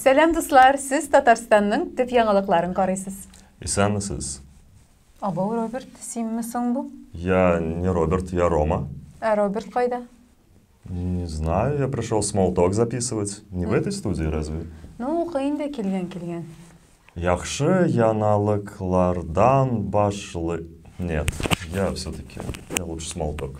Сәлам, дуслар! Сез Татарстанның төп яңалыкларын карыйсыз. Исәнмесез. Абау Роберт, синме соң бу? Я не Роберт, я Рома. Ә Роберт кайда? Не знаю, я пришел смолток записывать. Не в этой студии разве? Ну, укы инде килгән килгән. Яхшы яналыклардан башлы... Нет, я все-таки, я лучше смолток.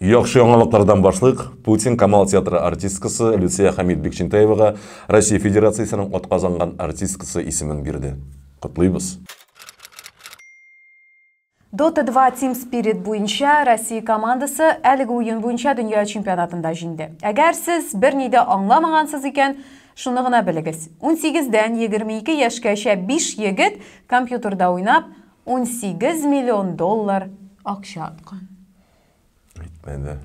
Яхшы яңалыклардан башлыйк. Путин Камал театры артисткасы Люция Хәмит Бикчентаевага Россия Федерациясенең атказанган артисткасы исемен бирде. Котлыйбыз! Dota два Team Spirit буенча Россия командасы әлеге уен буенча дөнья чемпионатында җиңде. Әгәр сез берни дә аңламагансыз икән, шуны гына белегез. 18 дән 22 яшькәчә 5 егет компьютерда уйнап, 18 миллион доллар акча откан. Әйтмәде.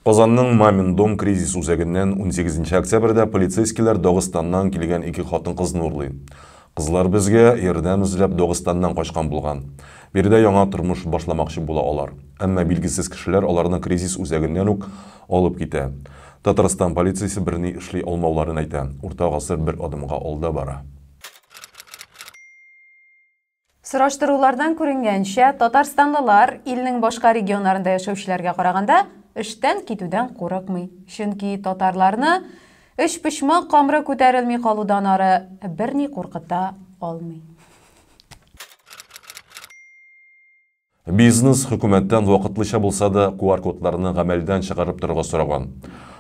Казанның Мамин дом кризис үзәгеннән унсигез нче октябрьдә полицейскийлар Дагыстаннан килгән ике хатын-кызны урлый. Кызлар безгә ярдәм эзләп Дагыстаннан качкан булган. Биредә яңа тормыш башламакчы була алар. Әмма билгесез кешеләр аларны кризис үзәгеннән үк алып китә. Татарстан полициясе берни эшли алмауларын әйтә. Урта гасыр бер адымга алда бара. Сораштырулардан күренгәнчә, татарстанлылар илнең башка регионнарында яшәүчеләргә караганда эштән китүдән курыкмый. Чөнки татарларны өчпочмак камыры күтәрелми калудан ары берни куркыта алмый. Бизнес хөкүмәттән вакытлыча булса да QR-кодларны гамәлдән чыгарып торырга сораган.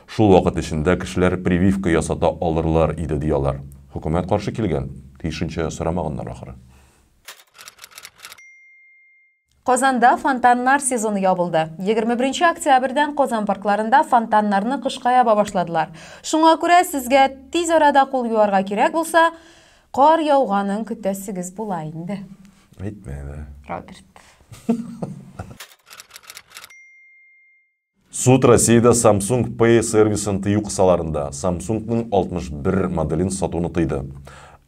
Шул вакыт эчендә кешеләр прививка ясата алырлар иде, ди алар. Хөкүмәт каршы килгән. Тиешенчә сорамаганнар ахры. Казанда фонтаннар сезоны ябылды. Егерме беренче октябрьдән Казан паркларында фонтаннарны кышка яба башладылар. Шуңа күрә сезгә тиз арада кул юарга кирәк булса, кар яуганын көтәсегез була инде. Әйтмә әле. Роберт. Суд Россиядә Samsung Pay сервисын тыю кысаларында Samsung-ның 61 моделен сатуны тыйды.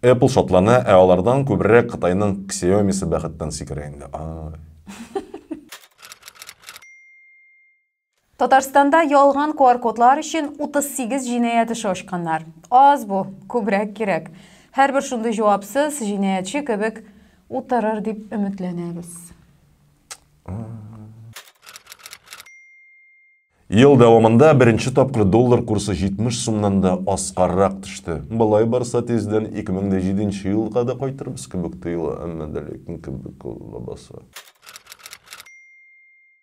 Apple шатлана, ә алардан күбрәк Кытайның Xiaomi-се бәхеттән сикерә инде. Ай. Татарстанда ялган QR-кодлар өчен 38 җинаять эше ачканнар. Аз бу, күбрәк кирәк. Һәрбер шундый җавапсыз, җинаятьче кебек утырыр дип өметләнәбез. Ел дәвамында беренче тапкыр доллар курсы 70 сумнан да аскаррак төште. Болай барса тиздән 2007 елга да кайтырбыз кебек тоела, әмма дә ләкин кебек ул лабаса.